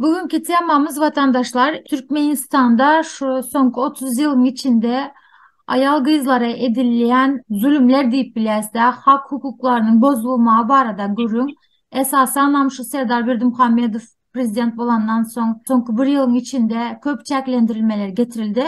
Bu günki temamyz watandaşlar Türkmenistanda şu soňky 30 ýylyň içinde aýal gyzlara edilýän zulumlar diýip biläsde hak hukuklarynyň bozulmagy barada gürrüň. Esasanam şu Serdar Berdimuhamedow prezident bolandan soň soňky bir ýylyň içinde köp çäklendirilmeler getirildi.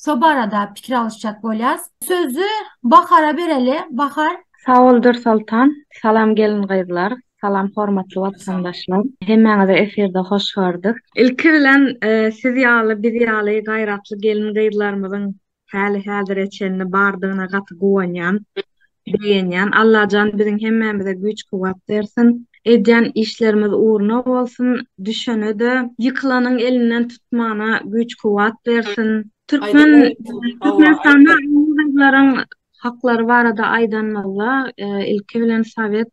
Şo barada pikir alyşjak bolýas. Sözi Bahara bereli. Bahar. Sag bol Dürsoltan. Salam gelin gyzlar. Salam hormatly watandaşlar. Hemmäňizi efirde hoş gördük. Ilki bilen siz ýaly biz ýaly gaýratly gelin gyzlarymyzyň häli häzire çenli bardygyna gaty guwanýan, begenýän. Allajan biziň hemmämize güýç kuwwat bersin. Edýän işlerimiz ugruna bolsun. Düşenede, ýykylanyň elinden tutmana güýç kuwwat bersin. Türkmen Türkmenistanda gyzlaryň Haklary barada aýdanymyzda, ilki bilen sowet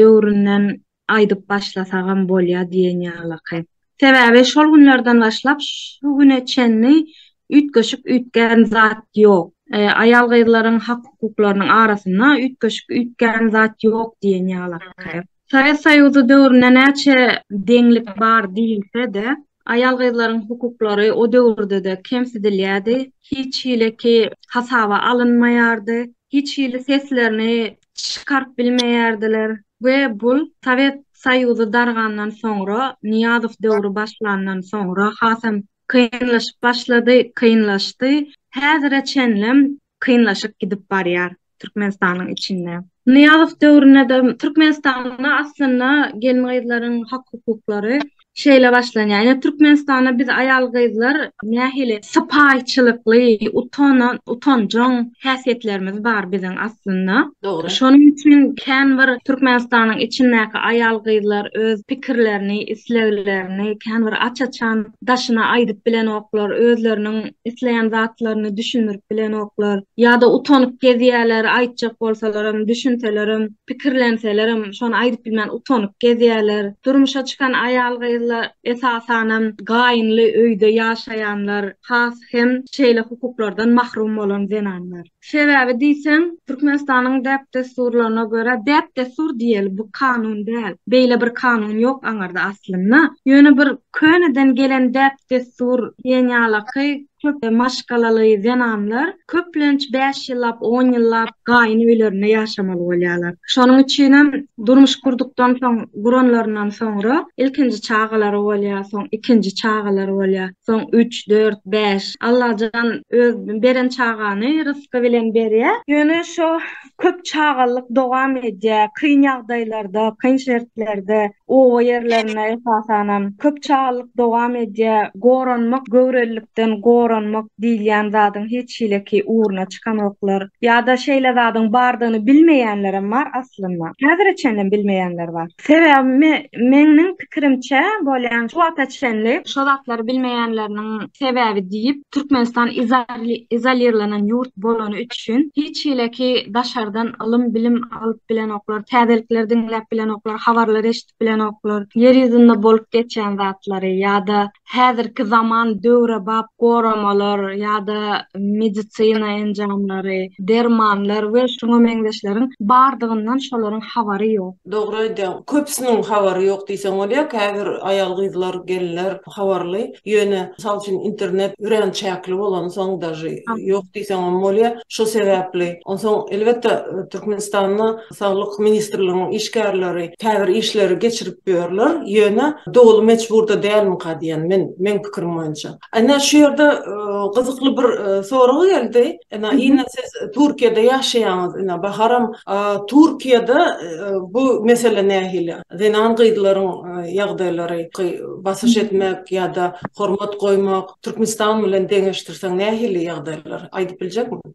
döwründen aýdyp başlasagam bolýar diýen ýalyky. Sebäbi şol günlerden başlap şu güne çenli üýtgeşik üýtgän zat ýok. Aýal-gyzlaryň hak-hukuklarynyň arasynda üýtgeşik üýtgän zat ýok diýen ýalyky. Sowet Soýuzy döwründe näçe deňlik bar diýilse-de, aýal-gyzlaryň hukuklary o döwürde-de kemsidilýärdi, hiç hileki hasaba alynmaýardy, hiç hili seslerini çykaryp bilmeýärdiler we bul Sowet Soýuzy dargandan soňra, Nyýazow döwri başlandan soňra hasam kynlaşyp başlady, kynlaşdy. Häzire çenlem kynlaşyp gidip barýar Türkmenistanyň içinde. Nyýazow döwründe-de Türkmenistanda aslynda gelin-gyzlaryň hak-hukuklary şeýle başlanýar. Ýöne Türkmenistanda biz aýal-gyzlar nähili sypaýyçylykly, utanan, utanjaň häsiýetlerimiz bar biziň aslynda. Dogry. Şonuň üçin kän bir Türkmenistanyň içindäki aýal-gyzlar öz pikirlerini, isleglerini kän bir aç-açan daşyna aýdyp bilenoklar, özleriniň isleýän zatlaryny düşündirip bilenoklar, ýa-da utanyp gezýärler, aýtjak bolsalarym, düşünselerem, pikirlenselerem, şony aýdyp bilmän utanyp gezýärler. Durmuşa çykan aýal-gyzlar, esasanam, gaýynly öýde ýaşaýanlar, has hem şeýle hukuklardan mahrum bolan zenanlar. Sebäbi diýseň, Türkmenistanyň däp-dessurlaryna görä, däp-dessur diýeli, bu kanun däl. Beýle bir kanun ýok aňyrda aslynda. Ýöne bir köneden gelen däp-dessur diýen ýalaky köp maşgalaly zenanlar köplenç bäş ýyllap, on ýyllap gaýyn öýlerinde ýaşamaly bolýarlar. Şonuň üçinem durmuş gurdukdan soň, guranlaryndan soňra ilkinji çagalary bolýar, soň ikinji çagalary bolýar. soň üç, dört, bäş. Allajan öz beren çagany rysky bilen berýä. Ýöne şo köp çagalyk dowam edýä, kyn ýagdaýlarda, kyn şertlerde, oba ýerlerinde esasanam köp çagalyk dowam edýä. Goranmak, göwrelilikden goranmak diýilýän zadyň hiç hileki ugruna çykanoklar. Ýa-da şeýle zadyň bardygyny bilmeýänlerem bar aslynda. Häzire çenlem bilmeýänler bar. Sebäbi meňňiň pikirimçe bolýan şu wagta çenli şo zatlary bilmeýänleriniň sebäbi diýip Türkmenistan izolirlenen ýurt bolany üçin hiç hileki daşardan ylym bilim alyp bilenoklar täzelikleri diňläp bilenoklar habarlary eşidip bilenoklar ýer ýüzünde bolup geçýän zatlary ýada häzirki zaman döwrebap goramalar ýa-da medisina enjamlary, dermanlar we şuňa meňzeşleriň bardygyndan şolaryň habary ýok. Dogry aýdýaň. Köpüsiniň habary ýok diýseň bolýar. Käbir aýal-gyzlar, gelinler habarly. Ýöne, mysal üçin, internet örän çäkli bolansoň daži ýok diýseňem bolýar. Şo sebäpli. Onsoň, elbetde, Türkmenistanda. Saglyk ministrliginiň işgärleri käbir işleri geçirip ýörler, ýöne doly mejburda dälmika diýen men, meň pikirim boýunça. Ene şu ýerde gyzykly bir sorag geldi. Ene ine siz Türkiýede ýaşaýaňyz ine Baharam Türkiýede bu mesele nähili? Zenan gyzlaryň ýagdaýlary basyş etmek ýa-da hormat goýmak Türkmenistan bilen deňeşdirseň nähili ýagdaýlar aýdyp biljekmiň?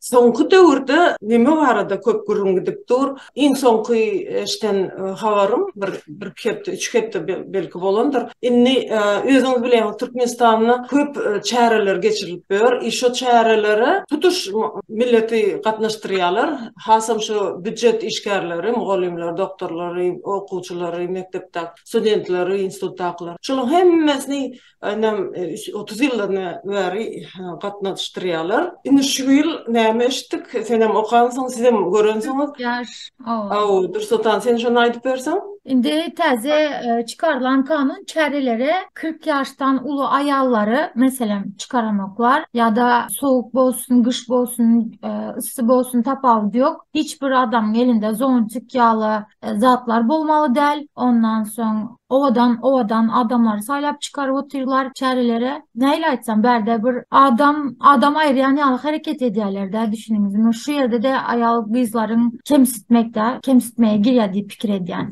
Soňky döwürde neme barada köp gürrüň gidip dur? Iň soňky eşden habarym bir bir-iki hepde, üç hepde belki bolandyr. Indi özüňiz bilýäňiz, Türkmenistanda köp çäreler geçirilip ýör. I şo çärelere tutuş milleti gatnaşdyrýarlar. Hasam şo býujet işgärleri, mugallymlar, doktorlary, okuwçylary, mekdepdäki studentleri, institutdakylary. Şolaryň hemmesini Aýnam otuz ýyldan bäri gatnaşdyrýarlar. Indi şu ýyl näme eşitdik? Senem okansyň, sizem görensiňiz. Hawa, Dursultan, sen şony aýdyp berseň. Indi täze çykarylan kanun çärelere kyrk ýaşdan uly aýallary, meselem, çykaramoklar ýa-da sowuk bolsun, gyş bolsun, yssy bolsun, tapawudy ýok. Hiç bir adamyň elinde zontik ýaly zatlar bolmaly däl. Ondan soň Owadan owadan adamlary saýlap çykaryp otyrlar çärelere. Nähili aýtsam bärde bir adam adam aýyrýan ýaly hereket edýärlerdä düşüniňizmi? Şu ýerde-de aýal gyzlaryň kemsitmekdä kemsitmege girýär diýip pikir edýän.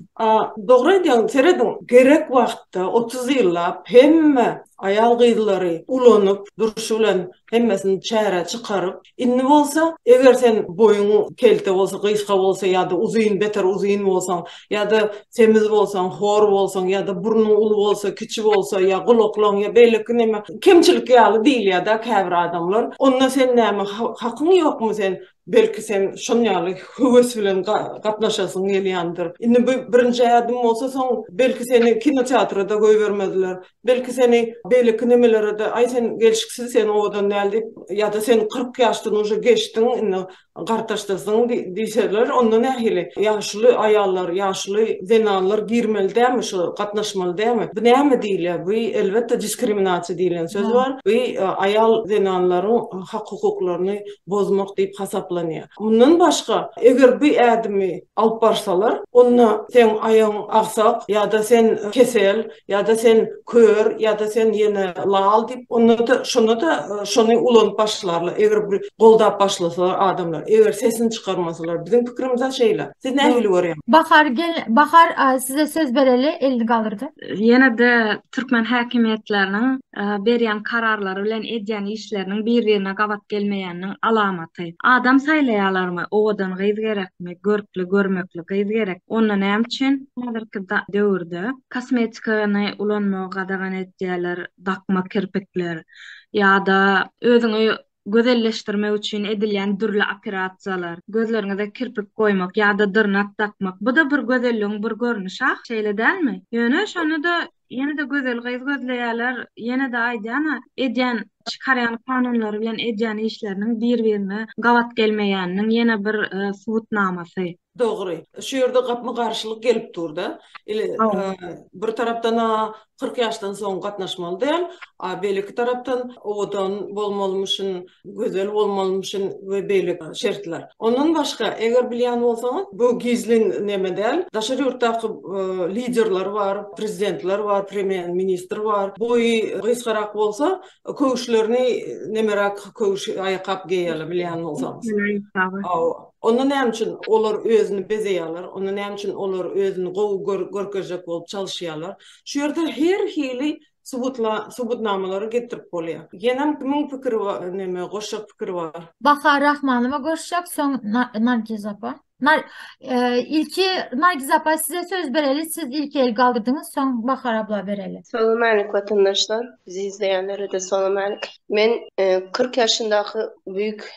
Dogry aýdýaň serediň gerek wagtda otuz ýyllap hemme aýal gyzlary ulanyp durşy bilen Hemmesini çärä çykaryp, indi bolsa, eger sen boýuň kelte bolsa, gysga bolsa ýa-da uzyn, beter uzyn bolsaň, ýa-da semiz bolsaň, hor bolsaň, ýa-da burnuň uly bolsa, kiçi bolsa, ýa gulaklaň, ýa beýleki näme, kemçilik ýaly diýilýär-dä käbir adamlar, onda sen näme, hakyň ýokmy sen Belki sen şon ýaly höwes bilen gatnaşasyň gelýändir. Indi bu birinji ädim bolsa soň belki seni kinoteatra-da goýbermezler. Belki seni beýleki nemelere-de aý sen gelşiksiz sen owadan däl diýip ýa-da sen kyrk ýaşdan uje geçdiň indi gartaşdasyň diýseler onda nähili? Ýaşuly aýallar, ýaşuly zenanlar girmeli dälmi şu gatnaşmaly dälmi? Bu näme diýilýär? Bu elbetde diskriminasiýa diýilen söz bar. Bu aýal zenanlaryň hak-hukuklaryny bozmak diýip hasaplanýar. Mundan başga, eger bu ädimi alyp barsalar, onda seň aýagyň agsak ýa-da sen kesel ýa-da sen kör ýa-da sen ýene lal diýip, onda-da şonda-da şony ulanyp başlarlar, eger bir goldap başlasalar adamlar, eger sesini çykarmasalar. Biziň pikirimiz-ä şeýle. Siz nähili görýäňiz? Bahar, gel, Bahar, size söz bereli, elini galdyrdy. Ýene-de Türkmen häkimiýetleriniň berýän kararlary bilen edýän işleriniň bir-birine gabat gelmeýäniniň alamaty. Adam saýlaýalarmy? Owadan gyz gerekmi? Görkli, görmekli gyz gerek. Onda näme üçin häzirki döwürde kosmetikany ulanmagy gadagan edýäler, dakma kirpikler ýa-da özüňi gözelleşdirmek üçin edilýän dürli operasiýalar, gözleriňize kirpik goýmak ýa-da dyrnak dakmak, bu-da bir gözelligiň bir görnüşi ah, şeýle dälmi? Ýöne şony-da ýene-de gözel gyz gözleýärler, ýene-de aýdýan-a, edýän, çykarýan kanunlary bilen edýän işleriniň bir-birine gabat gelmeýäniniň ýene bir subutnamasy. Dogry. Şu ýerde gapma garşylyk gelip dur-da. Ile bir tarapdan-a kyrk ýaşdan soň gatnaşmaly däl, a beýleki tarapdan owadan bolmalymyşyn, gözel bolmalymyşyn we beýle şertler. Ondan başga, eger bilýän bolsaňyz, bu gizlin neme däl, daşary ýurtdaky liderler bar, prezidentler bar, premýer-ministr bar, boýy gysgarak bolsa, köwüşlerini nemeräk köwüş aýakgap geýýärler, bilýän bolsaňyz. Awa. Onda näme üçin olar özüni bezeýärler, onda näme üçin olar özüni gowy görkezjek bolup çalyşýarlar? Şu ýerde her hili subutnamalary getirip bolýar. Ýenem kimiň pikiri bar, näme goşjak pikiri bar? Bahar Rahmanowa goşjak, soň Nargiz apa. Ilki Nargiz apa size söz bereli, siz ilki el galdyrdyňyz, soň Bahar abla bereli. Salam alik watandaşlar, bizi izleýänlere-de salam alik. Men kyrk ýaşyndaky büýük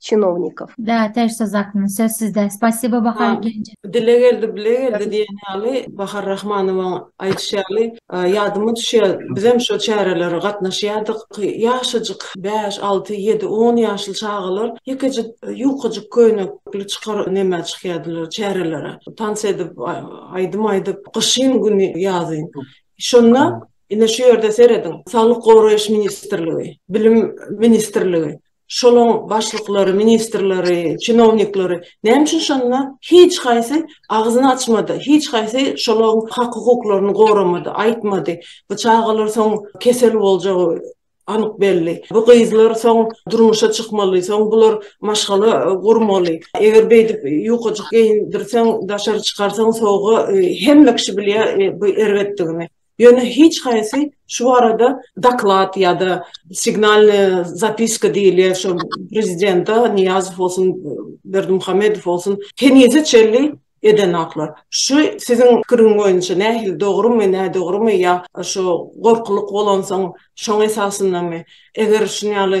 çinownikov. Da też söz hakyny söz sizde. Spasibo Bahar Genje. Dile geldi bile geldi diýen ýaly Bahar Rahmanowaň aýdyşy ýaly ýadyma düşýär bizem şo çärelere gatnaşýardyk ýaşajyk bäş alty ýedi on ýaşly çagalar ýekejik ýukajyk köýnekli çykar neme çykýardylar çärelere tans edip aýdym aýdyp gyşyn güni ýazyn şonda ine şu ýerde serediň saglyk goraýyş ministrligi bilim ministrligi şolaň başlyklary, ministrleri, çinownikleri näme üçin şonda hiç haýsy agzyny açmady, hiç haýsy şolaň hak-hukuklaryny goramady, aýtmady, bu çagalar soň kesel boljagy anyk belli, bu gyzlar soň durmuşa çykmaly, soň bular maşgala gurmaly, eger beýdip ýukajyk geýindirseň, daşary çykarsaň sowuga, hemme kişi bilýär bu erbetdigini. Ýöne hiç haýsy şu barada doklad ýa-da signalnyý zapiska diýilýän şo prezidente Nyýazow bolsun, Berdimuhamedow bolsun henize çenli edenaklar. Şu siziň pikiriň boýunça nähili dogrumy, nädogrumy ýa şo gorkulyk bolansoň şoň esasyndamy? Eger şuny ýaly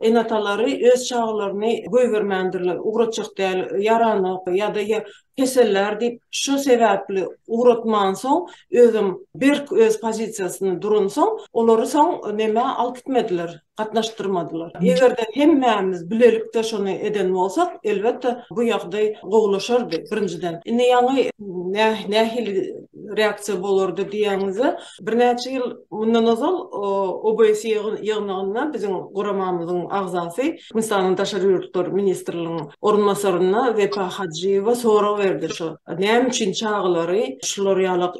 Ene-atalary öz çagalaryny goýbermändirler, ugratjak däl, ýaranok ýa-da kesellär diýip, şu sebäpli ugratmansoň, özem berk öz pozisiýasynda duransoň, olary soň nämä alyp gitmediler, gatnaşdyrmadylar. Eger-de hemmämiz bilelikde şony eden bolsak, elbetde, bu ýagdaý gowulaşardy, birinjiden. Indi ýaňy nähili reaksiýa bolardy diýýäňizde, Birnäçe ýyl mundan ozal OBS ýygnagynda biziň guramamyzyň agzasy, Hindistanyň Daşary ýurtlar ministriniň orunbasaryna Wepa Hajyýewa sorag berdi, şu näme üçin çagalary şular ýalak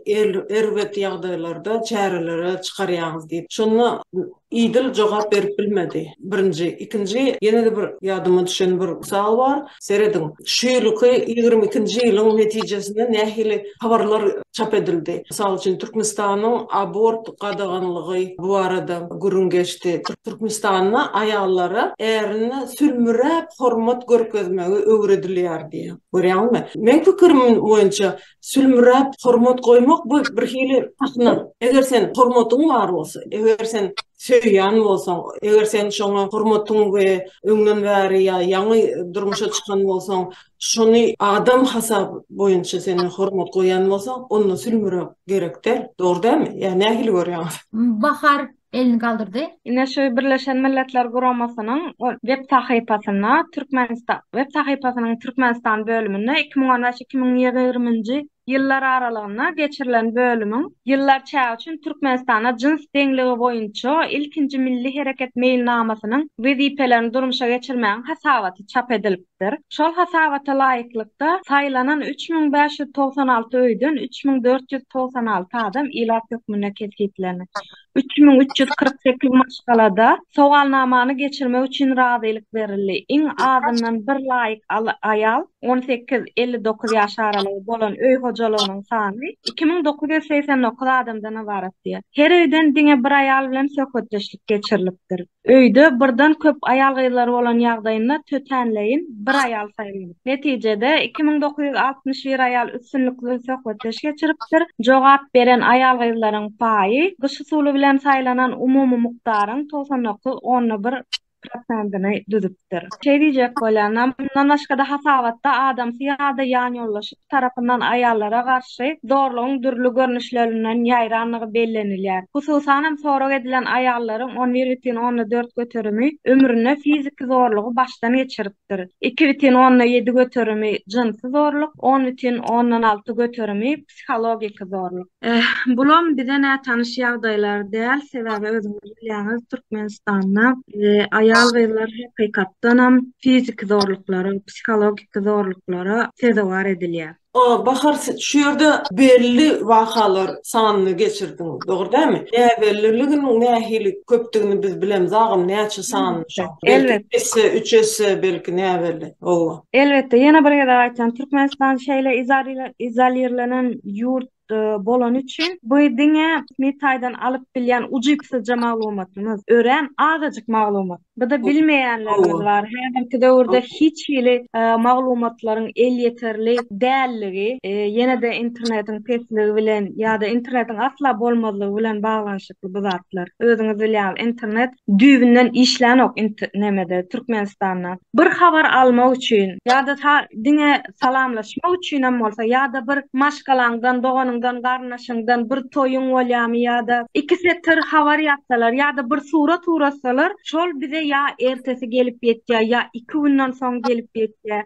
erbet ýagdaýlarda çärelere çykarýaňyz diýip. Şonda Idil jogap berip bilmedi. Birinji, ikinji ýene-de bir ýadyma düşen bir mysal bar. Serediň, şu ýylyky ýigrimi ikinji ýylyň netijesinde nähili habarlar çap edildi. Mysal üçin, Türkmenistanyň abort gadaganlygy bu barada gürrüň geçdi. Türkmenistanda aýallara ärine sülmüräp hormat görkezmegi öwredilýär diýýär. Görýäňizmi? Meň pikirim boýunça, Sülmüräp hormat goýmak bu bir hili sahna. Eger sen hormatyň bar bolsa, eger sen söýýän bolsaň, eger sen şoňa hormatyň we öňden bäri ýa ýaňy durmuşa çykan bolsaň, şony adam hasap boýunça sen hormat goýýan bolsaň, onda sülmüräp gerek däl. Dogry dälmi? Ýa nähili görýäňiz? Bahar, elini galdyrdy. Ine şu Birleşen Milletler Guramasynyň web sahypasynda Türkmenistan web sahypasynyň Türkmenistan bölüminde iki müň on beş, iki müň ýigrimi ýyllar aralygynda geçirilen bölümiň ýyllar çägi üçin Türkmenistanda jyns deňligi boýunça ilkinji milli hereket meýilnamasynyň wezipelerini durmuşa geçirmegiň hasabaty çap edilip berlipdir. Şol hasabata laýyklykda, saýlanan üç müň bäş ýüz togsan alty öýden üç müň dört ýüz togsan alty adam ilat hökmünde kesgitlenip, üç müň üç ýüz kyrk sekiz maşgalada sowalnamany geçirmek üçin razylyk berildi. Iň azyndan bir laýyk aýal, on sekiz, elli dokuz ýaş aralygy, bolan öý hojalygynyň sany iki müň dokuz ýüz segsen dokuz adamdan ybaratdy. Her öýden diňe bir aýal bilen söhbetdeşlik geçirilipdir. Öýde birden köp aýal-gyzlar bolan ýagdaýynda tötänleýin bir aýal saýylmalydyr. Netijede, iki müň dokuz ýüz altmyş bir aýal üstünlikli söhbetdeş geçiripdir. Jogap beren aýal-gyzlaryň paýy gyş usuly bilen saýlanan umumy mukdaryň togsan dokuz onda bir prosentini düzüpdir. Şeý diýjek bolýan, mundan başga-da hasabatda adamsy ýa-da ýanýoldaşy. tarapyndan aýallara garşy zorlugyň dürli görnüşlerinden ýaýrandygy bellenilýär. Hususan hem sorag edilen aýallaryň on bir bütin onda dört göterimi ömründe fiziki zorlugy başdan geçiripdir, iki bütin onda ýedi göterimi jynsy zorluk, on bütin ondan alty göterimi psihologiki zorluk. Eh, bulam bize nätanyş ýagdaýlar däl, sebäbi özüňiz bilýäňiz, Türkmenistanda, eh, aýal-gyzlar hakykatdanam fiziki zorluklara, psihologiki zorluklara sezewar edilýär. A, Bahar, sen şu ýerde belli wakalar sanyny geçirdiň, dogry dälmi? Näbelliliginiň nähili köpdügini biz bilemiz agam, näçe sanyny şoň? Elbetde. Belki, iki esse, üç esse, belki näbelli. Owwa. Elbetde, ýene bir gezek aýtýan, Türkmenistan şeýle izolirlenen ýurt bolany üçin, bu diňe resmi taýdan alyp bilýän ujypsyzja maglumatymyz, örän azajyk maglumat. Bu-da bilmeýänlerimiz bar. Häzirki döwürde hiç hili maglumatlaryň elýeterli dälligi, ýene-de internetiň pesligi bilen ýa-da internetiň asla bolmazlygy bilen baglanyşykly. ýaşaýşy bu zatlar. Özüňiz bilýäňiz, internet düýbünden işlänok int nemede, Türkmenistanda. Bir habar almak üçin ýa-da ta diňe salamlaşmak üçinem bolsa ýa-da bir maşgalaňdan, doganyňdan, garyndaşyňdan bir toýuň bolýamy ýa-da iki setir habar ýazsalar ýa-da bir surat uratsalar, şol bize ýa ertesi gelip ýetýär, ýa iki günden soň gelip ýetýär.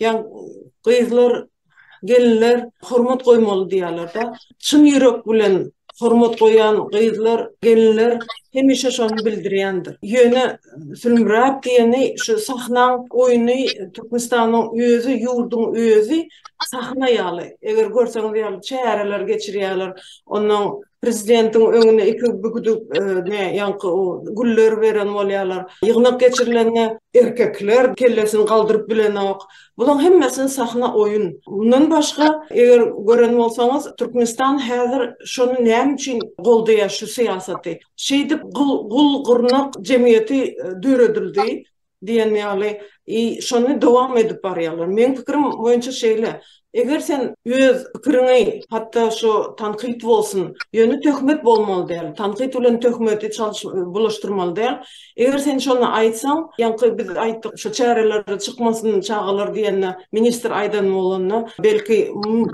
Ýa gyzlar, gelinler hormat goýmaly diýýärler-de. Çyn ýürek bilen hormat goýan gyzlar, gelinler hemişe şony bildirýändir. Ýöne sülmüräp diýeni şu sahnaň oýny Türkmenistanyň özi, ýurduň özi sahna ýaly. Eger görseňiz ýaly çäreler geçirýärler. Onnoň Prezidentiň öňüne iki bigduk ne ýaňky o güller beren bolýarlar. Ýygnak geçirilende erkekler kellesini galdyryp bilenok. Bulaň hemmesi sahna oýun. Mundan başga eger gören bolsaňyz Türkmenistan häzir şony näme üçin goldaýar şu syýasaty. Şeýdip gul gurnak jemgyýeti döredildi. diýen ýaly i şony dowam edip barýarlar. Meň pikirim boýunça şeýle, eger sen öz pikiriňi hatda şu tankyt bolsun, ýöne töhmet bolmaly däl, tankyt bilen töhmeti çalyş bulaşdyrmaly däl, eger sen şony aýtsaň, ýaňky biz aýtdyk şu çärelere çykmasyn çagalar diýende, ministr aýdan bolanda, belki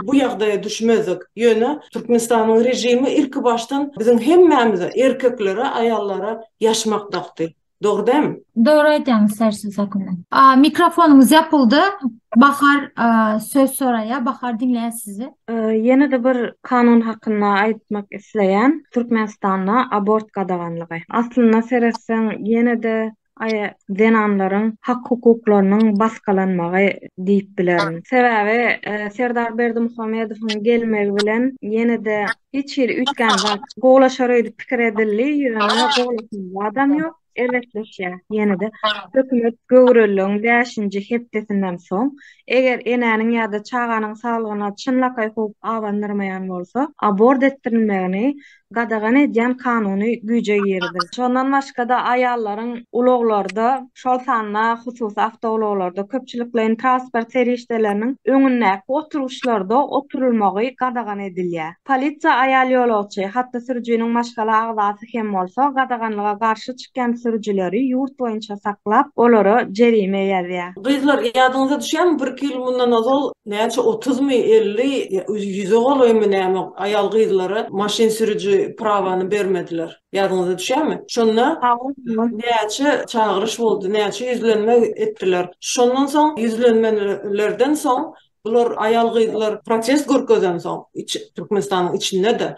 bu ýagdaýa düşmezdik, ýöne Türkmenistanyň režimi ilki başdan biziň hemmämize, erkeklere, aýallara ýaşmak dakdy. Dogryda hem. Dogry aýdýaňyz sersiz hakyna. Mikrofonyňyz ýapyldy. Bahar söz soraýa. Bahar diňleýäs sizi. Ýene-de bir kanun hakynda aýtmak isleýän. Türkmenistanda abort gadaganlygy. Aslynda seretseň ýene-de aý zenanlaryň hak hukuklarynyň basgalanmagy diýip bilerin. Sebäbi Serdar Berdimuhamedowyň gelmegi bilen ýene-de Hiç hili üýtgän zat. Gowlaşar öýdüp pikir edildi, ýöne gowlaşan zadam ýok. Erbetleşýär. Ýene-de hökümet göwreligiň bäşinji hepdesinden soň, eger enäniň ýa-da çaganyň saglygyna çynlakaý howp abandyrmaýan bolsa, abort etdirilmegini gadagan edýän kanuny güýje giriziler. Şondan başga-da aýallaryň ulaglarda şol sanda hususy awtoulaglarda, köpçülikleýin transport serişdeleriniň öňündäki oturgyçlarda oturylmagy gadagan edilýär. Polisiýa aýal ýolagçy, hatda sürüjiniň maşgala agzasy hem bolsa, gadaganlyga garşy çykýan sürüjileri ýurt boýunça saklap, olara jerime ýazýar. Gyzlar, ýadyňyza düşýärmi, birki ýyl mundan ozal näçe otuzmy, elli, ýa ýüze golaýmy näme aýal-gyzlara maşyn sürüji prawany bermediler? Ýadyňyza düşýärmi? Şonda näçe çagyryş boldy, näçe ýüzlenme etdiler. Şondan soň ýüzlenmelerden soň bular aýal-gyzlar protest görkezensoň, Türkmenistanyň içinde-de,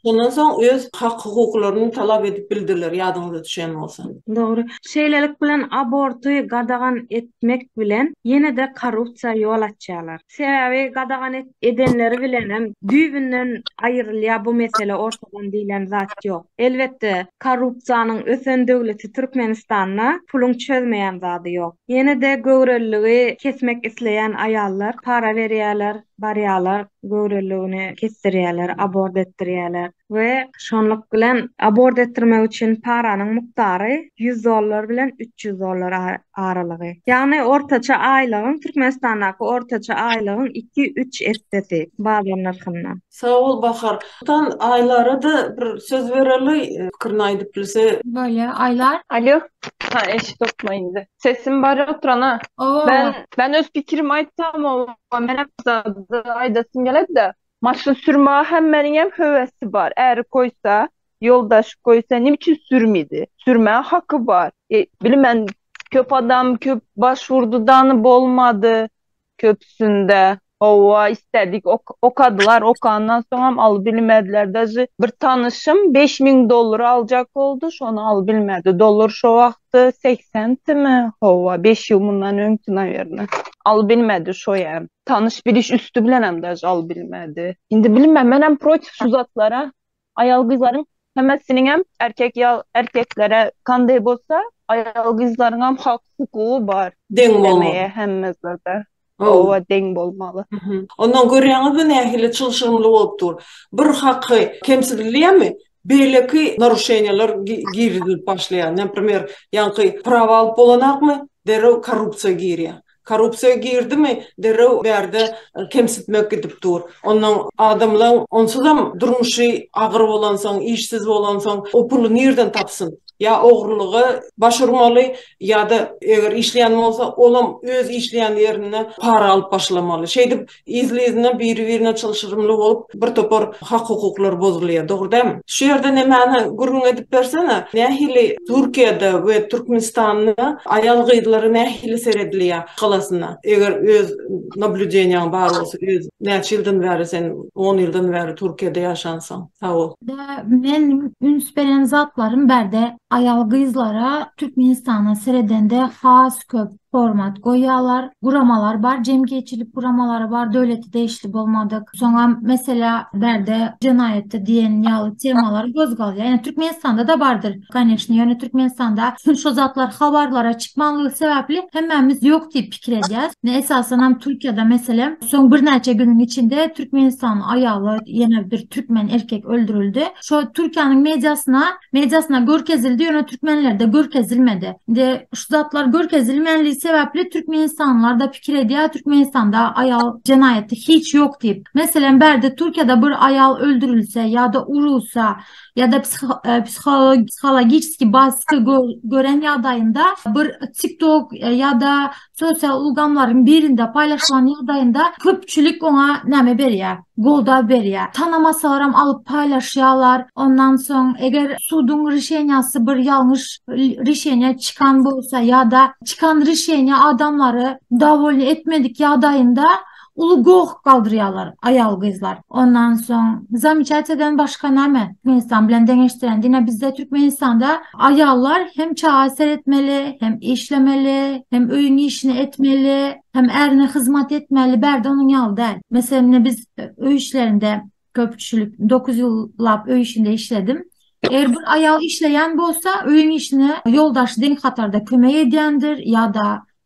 şondan soň öz hak-hukuklaryny talap edip bildiler, ýadyňyza düşen bolsa. Dogry. Şeýlelik bilen aborty gadagan etmek bilen ýene-de korrupsiýa ýol açýarlar. Sebäbi gadagan edenleri bilenem düýbünden aýrylýar bu mesele ortadan diýlen zat ýok. Elbetde korrupsiýanyň ösen döwleti Türkmenistanda puluň çözmeýän zady ýok. Ýene-de göwreliligi kesmek isleýän aýallar para berýärler, barýarlar göwreliligini kesdirýärler, abort etdirýärler. we şonluk bilen abort etdirmek üçin paranyň mukdary ýüz dollar bilen üç ýüz dollar aralygy. Ýagny ortaça aýlygyň, Türkmenistandaky ortaça aýlygyň iki-üç essesi bazar nyrhyndan. Sag bol Bahar. Tan Aýlara-da bir söz bereli, pikirini aýdyp bilse. Bolýa, Aýlar. Alýo. Ha, eşidokmy indi? Sesim bar oturana. Oba, oba. Men öz pikirimi aýtsam, oba, menem zat aýdasym geledi-de. Maşyn sürmäge hemmäniňem höwesi bar. Äri goýsa, ýoldaşy goýsa, nime üçin sürmedi? Sürmäge haky bar. E, bilmen, köp adam köp başwurdy dany bolmady köpüsinde. Hawa, islädik okadylar, okandan soňam alybilmediler. Dažy bir tanyşym beş müň dollar aljak boldy, şony alybilmedi. Dollar şo wagty segsen timi? Hawa, beş ýyl mundan öňki, nawerno. Alybilmedi şoýam. Tanyş biliş üsti bilen hem de jal bilmedi. Indi bilmem men hem protiv şu zatlara. Ayal gyzlaryň hemmesiniň hem erkek ya erkeklere kanday bolsa ayal gyzlaryň hem hak hukugy bar. Deň bolmaly. Hemmesinde. Owa deň bolmaly. Ondan görýäňizmi nähili çylşyrymly bolup dur. Bir haky kemsidilýärmi? Beýleki naruşeniýalar girizilip başlaýar. Naprimer, ýaňky prawa alyp bolanakmy, derrew korrupsiýa girýär. Korrupsiýa girdimi, derrew bärde kemsitmek gidip dur. Onnoň adamlaň onsuzam durmuşy agyr bolansoň, işsiz bolansoň, o puly nirden tapsyn? Ýa ogrulyga baş urmaly, ýa-da eger işleýän bolsa, olam öz işleýän ýerinde para alyp başlamaly. Şeýdip, Yzly-yzyna biri-birine çylşyrymly bolup bir topar hak-hukuklar bozulýar, dogry dälmi? Şu ýerde nemäni gürrüň edip bersene, nähili Türkiýede we Türkmenistanda aýal-gyzlara nähili seredilýär galasynda, eger öz nablýudeniýaň bar bolsa, öz näçe ýyldan bäri sen on ýyldan bäri Türkiýede ýaşansyň? Sagbol. Men üns beren zatlarym bärde aýal-gyzlara Türkmenistana seredende has köp. format goýýarlar. Guramalar bar, jemgyýetçilik guramalary bar, döwlete degişli bolmadyk. Soňra mesela bärde jenaýatda diýen ýaly temalar gozgalýar. Ýöne Türkmenistanda-da bardyr, kanyşni. Ýöne Türkmenistanda şu şu zatlar habarlara çykmanlygy sebäpli hemmämiz ýok diýip pikir edýäs. Esasan hem Türkiýede meselem soň birnäçe günüň içinde Türkmenistan aýaly ýene bir türkmen erkek öldürildi. Şo Türkiýäniň mediasyna mediasyna görkezildi ýöne türkmenlerde görkezilmedi indi şu zatlar görkezilmänligi sebäpli türkmenistanlarda pikir edýär türkmenistanda aýal jenaýaty hiç ýok diýip meselem bärde türkiýede bir aýal öldürilse ýa-da urulsa ýa-da e, psihologiçki basky gören ýagdaýynda bir tiktok e, ýa-da sosial ulgamlaryň birinde paýlaşylan ýagdaýynda köpçülik oňa näme berýär? Goldaw berýär. Tanamasalarem alyp paýlaşýarlar. Ondan soň eger suduň rişeniýasy bir ýalňyş rişeniýa çykan bolsa ýa-da çykan rişeniýa adamlary dowolny etmedik ýagdaýynda Uly goh galdyrýarlar aýal-gyzlar. Ondan soň zamyçatiýadan başga näme? Türkmenistan bilen deňeşdiren. Diňe bizde Türkmenistanda aýallar hem çaga seretmeli, hem işlemeli, hem öýüň işini etmeli, hem ärine hyzmat etmeli. Bärde onuň ýaly däl. Meselem, ine biz öý işlerinde köpçülik dokuz ýyllap öý işinde işledim. Eger bir aýal işleýän bolsa, öýüň işine ýoldaşy deň hatarda kömek edýändir ýa-da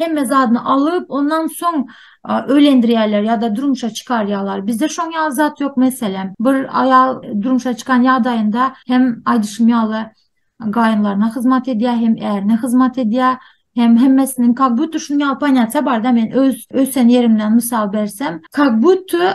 hemme zadyny alyp ondan soň öýlendirýärler ýa-da durmuşa çykarýarlar. Bizde şoň ýaly zat ýok meselem. Bir aýal durmuşa çykan ýagdaýynda hem aýdyşym ýaly gaýynlaryna hyzmat edýär, hem ärine hyzmat edýär, hem hemmesiniň kak-butu şuny ýaly ponýasiýa barda men öz ösen ýerimden mysal bersem, kak-butu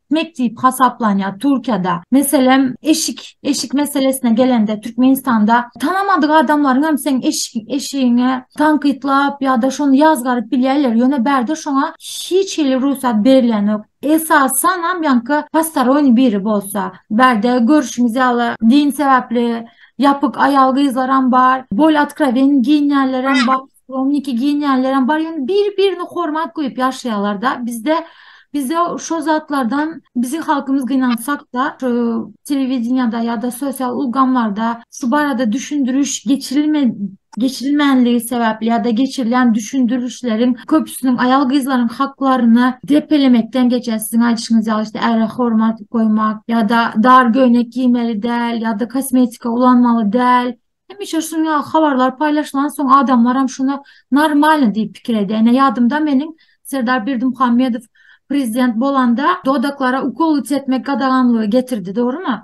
etmek diýip hasaplanýar Türkiýede. Meselem, eşik, eşik meselesine gelende Türkmenistanda tanamadyk adamlaryň hem seň eşik, eşigiňe tankytlap ýa-da şony ýazgaryp bilýärler. Ýöne bärde şoňa hiç hili rugsat berilýänok. Esasan hem ýaňky postaroýny biri bolsa. Bärde görüşimiz ýaly din sebäpli ýapyk aýal-gyzlaram bar, bol otkrowen giyinýänlerem bar. Romniki giýinýänlerem bar, ýöne bir-birini hormat goýup ýaşaýarlar-da. Bizde bizde şo zatlardan biziň halkymyz gynansak-da, şu telewideniýede ýa-da sosial ulgamlarda şu barada düşündiriş geçirilme geçirilmänligi sebäpli ýa-da geçirilýän düşündirişleriň köpüsiniň aýal-gyzlaryň haklaryny depelemekden geçýär. Siziň aýdyşyňyz ýaly, işte, äre hormat goýmak ýa-da dar göýnek giýmeli däl ýa-da kosmetika ulanmaly däl Hemişe şunuň ýaly habarlar paýlaşylan soň adamlaram şuna normalny diýip pikir edýär. Ine ýadymda meniň Serdar Berdimuhamedow prezident bolanda dodaklara ukol çekmek gadaganlygy getirdi, dogrymy?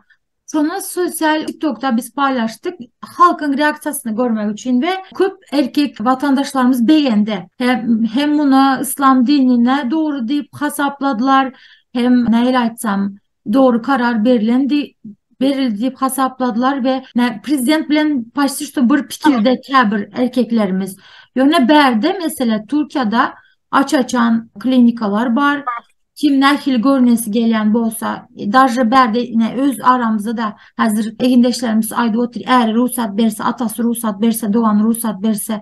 Şony sosial TikTokda biz paýlaşdyk. Halkyň reaksiýasyny görmek üçin we köp erkek watandaşlarymyz begendi. Hem hem muny yslam dinine dogry diýip hasapladylar, hem nähili aýtsam, dogry karar berlendi, berildi diýip hasapladylar we prezident bilen paşti şu bir pikirde käbir erkeklerimiz. Ýöne bärde mesele Türkiýede aç-açan klinikalar bar. Kim nähili görnesi gelýän bolsa, daže bärde ine öz aramyzda da häzir egindeşlerimiz aýdyp otyr, äri rugsat berse, atasy rugsat berse, dogany rugsat berse,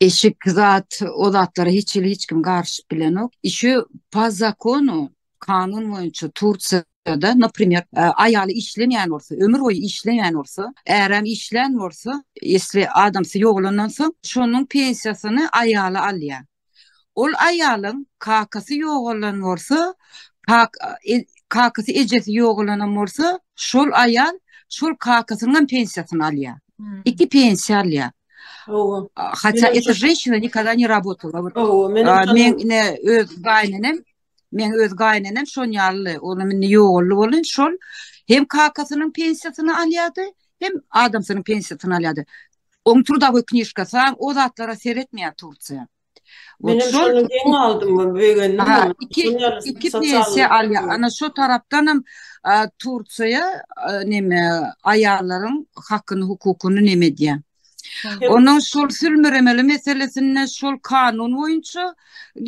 eşik zat o zatlara hiç hili hiç kim garşyp bilenok işi pa zakonu kanun boýunça tursiýa da naprimer e, aýaly işlemeýän bolsa ömür boýy işlemeýän bolsa äräm işlän bolsa esli adamsy ýogalandan soň şonuň pensiýasyny aýaly alýar Ol aýalyň kakasy ýogalan bolsa, kakasy ejesi ýogalanam bolsa, şol aýal şol kakasynyňam pensiýasyny alýar. Iki pensiýa alýar. Hawa. Hatda eto jeşina nikada ne rabotala. Hawa, men ine öz gaýynenem Men öz gaýnenem şon ýaly, olam indi ýogaldy boldy, şol hem kakasynyň pensiýasyny alýardy, hem adamsynyň pensiýasyny alýardy. Oň trudawy knişkasy bar, o zatlara seretmeýär Tursiýa. Men hem şony geň aldym, begendim. Ha, iki, iki pensiýa alýar. Ana şu tarapdan hem Tursiýa neme aýallaryň hakyny, hukukyny neme edýär. Onuň şol sülmüremeli meselesinde şol kanun boýunça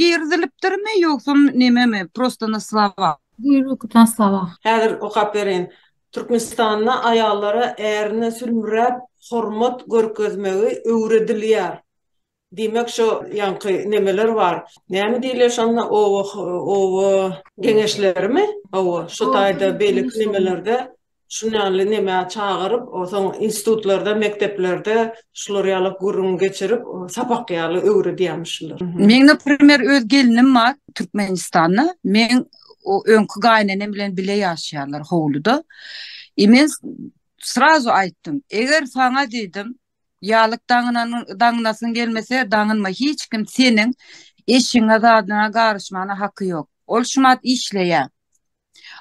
girizilipdirmi ýogsa nememi prosta na slova. Buýruk na slova. Häzir okap bereýin. Türkmenistanda aýallara ärine sülmüräp hormat görkezmegi öwredilýär. Diýmek şo ýaňky nemeler bar. Näme diýilýär şonda oba oba geňeşlerimi? Hawa, şo taýda beýleki nemelerde şun ýaly neme çagyryp, soň institutlarda, mekdeplerde şular ýaly gürrüň geçirip, sapak ýaly öwredýärmişler. Meň naprimer öz gelnim bar Türkmenistanda. Meň o öňki gaýynenem bilen bile ýaşaýarlar howluda. E men srazu aýtdym. Eger saňa diýdim, Ýalyk daňynasyň gelmese, daňynma, hiç kim seniň eşigiňe, zadyňa garyşmana haky ýok. Ol şumat işleýä.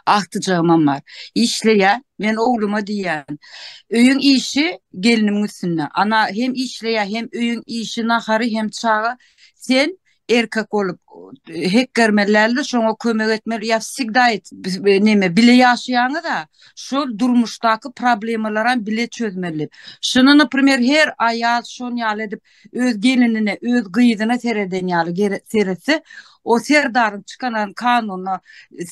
Agtyjagymam bar. Işleýä. Men ogluma diýýän. Öýüň işi gelnimiň üstünde. Ana hem işleýä, hem öýüň işi, nahary, hem çaga. Sen erkek bolup hekgermelilerde şoňa kömek etmeli ýa sigda näme bile ýaşaýaňyz da şol durmuşdaky problemalara bile çözmeli şuny naprimer her aýal şon ýaly edip öz gelinine öz gyzyna sereden ýaly seretse o serdaryň çykanan kanunyna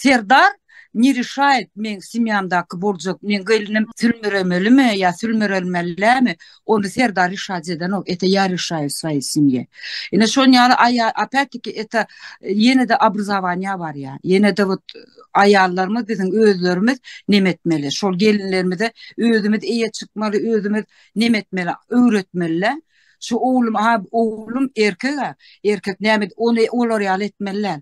serdar ne rişaýt meň simýamdaky boljak meň gelnim sülmüremelimi ýa sülmürelmällämi ony serdar rişaýt edenok ete ýa rişaýt saý simýe ine şon ýaly aýa apetiki ete ýenede abrzawanýa barýa ýenede wot aýallarymyz biziň özlerimiz neme etmeli şol gelinlerimize özümiz eýe çykmaly özümiz neme etmeli öwretmelilä şu oglum ha oglum erkega erkek näme ony olar ýaly etmelilä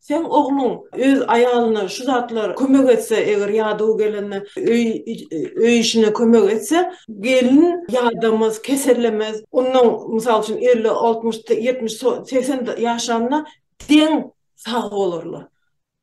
Seň ogluň öz aýalyna şu zatlar kömek etse, eger ýadaw gelende öý öý işine kömek etse, gelin ýadamaz, kesellemez. Ondan, mysal üçin, elli, altmyş, ýetmiş, so segsen ýaşanda deň sag bolarlar.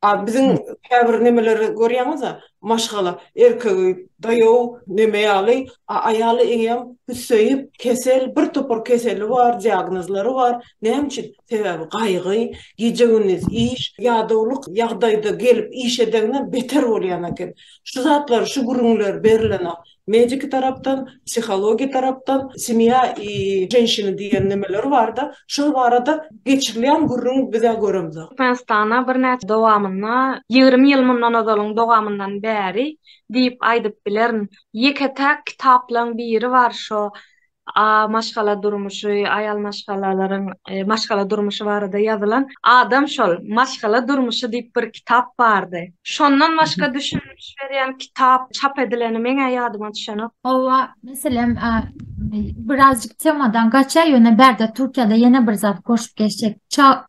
A biziň käbir nemeleri görýäňiz-ä, maşgala, erkegi daýaw, neme ýaly, a aýaly eýýäm hüsseýip, kesel, bir topar keseli bar, diagnozlary bar. Näme üçin? Sebäbi gaýgy, gije-gündiz iş, ýadawlyk ýagdaýda gelip iş edenine beter bolýan eken. Şu zatlar, şu gürrüňler berilenok. Mediki tarapdan, psihologiýa tarapdan, semýa i ženşina diýen nemeler bar-da, şol barada geçirilýän gürrüň biz-ä göremzok. Türkmenistana birnäçe dowamynda, ýigrimi ýyl mundan ozalyň dowamyndan bäri diýip aýdyp bilerin, ýeke-täk kitaplaryň biri bar, şo A maşgala durmuşy, aýal maşgalalaryň maşgala durmuşy barada ýazylan Adam şol, maşgala durmuşy diýip bir kitap bardy. Şondan başga düşündiriş berýän kitap çap edileni meň-ä ýadyma düşenok. Hawa, meselem, birazjyk temadan gaçýar, ýöne bärde Türkiýede ýene bir zat goşup geçjek.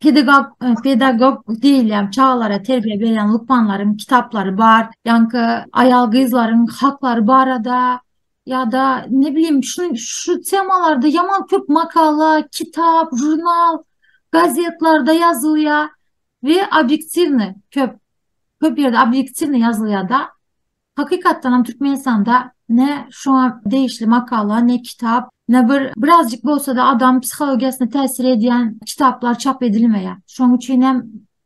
Pedagog, pedagog diýilýän çagalara terbiýe berýän lukmanlaryň kitaplary bar. Ýaňky aýal-gyzlaryň haklary barada ýa-da ne bileyim şu şu temalarda ýaman köp makala, kitap, žurnal, gazetlarda ýazylýar we obýektiwny köp köp ýerde obýektiwny ýazylýar-da. Hakykatdan hem Türkmenistanda ne şoňa degişli makala, ne kitap, ne bir birazjyk bolsa-da adam psihologiýasyna täsir edýän kitaplar çap edilmeýär. Şonuň üçin hem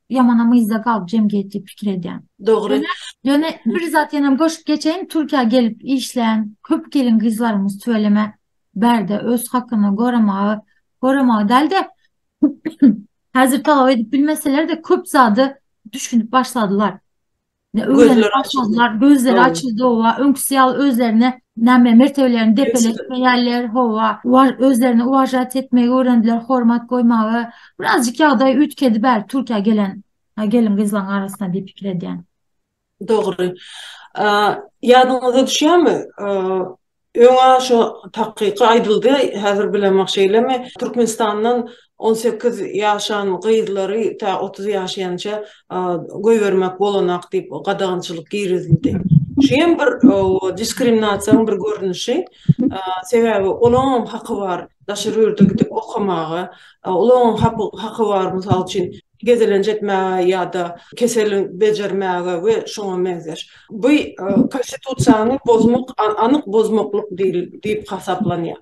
Ýamanam yzda galyp jemgyýet diýip pikir edýän. Dogry. Ýöne bir zat ýene goşup geçeýin, Türkiýä gelip işlän köp gelin gyzlarymyz tüweleme bärde öz hakyny goramagy, goramagy däl-de häzir talap edip bilmeseler-de köp zady düşünip başladylar. Gözleri açyldy. Gözleri açyldy, owa. Öňküsi ýaly özlerine näme mertebelerini depeletmeýärler, howa. Bar özlerini uwažat etmegi öwrendiler, hormat goýmagy. Birazjyk ýagdaý üýtgedi bäri Türkiýä gelen gelin-gyzlaryň arasynda diýip pikir edýän. Dogry. Ýadyňyza düşýärmi, Öňa şo takyky aýdyldy, häzir bilemok şeýlemi, Türkmenistandan on sekiz ýaşan gyzlary tä otuz ýaşaýança goýbermek bolanak diýip gadagançylyk girizildi. Şu hem bir diskriminasiýaň bir görnüşi. Sebäbi olaňam haky bar daşary ýurda gidip okamaga, olaňam haky bar mysal üçin gezelenç etmäge ýa-da keseli bejermäge we şoňa meňzeş. Bu Konstitusiýany bozmak anyk bozmaklyk diýip hasaplanýar.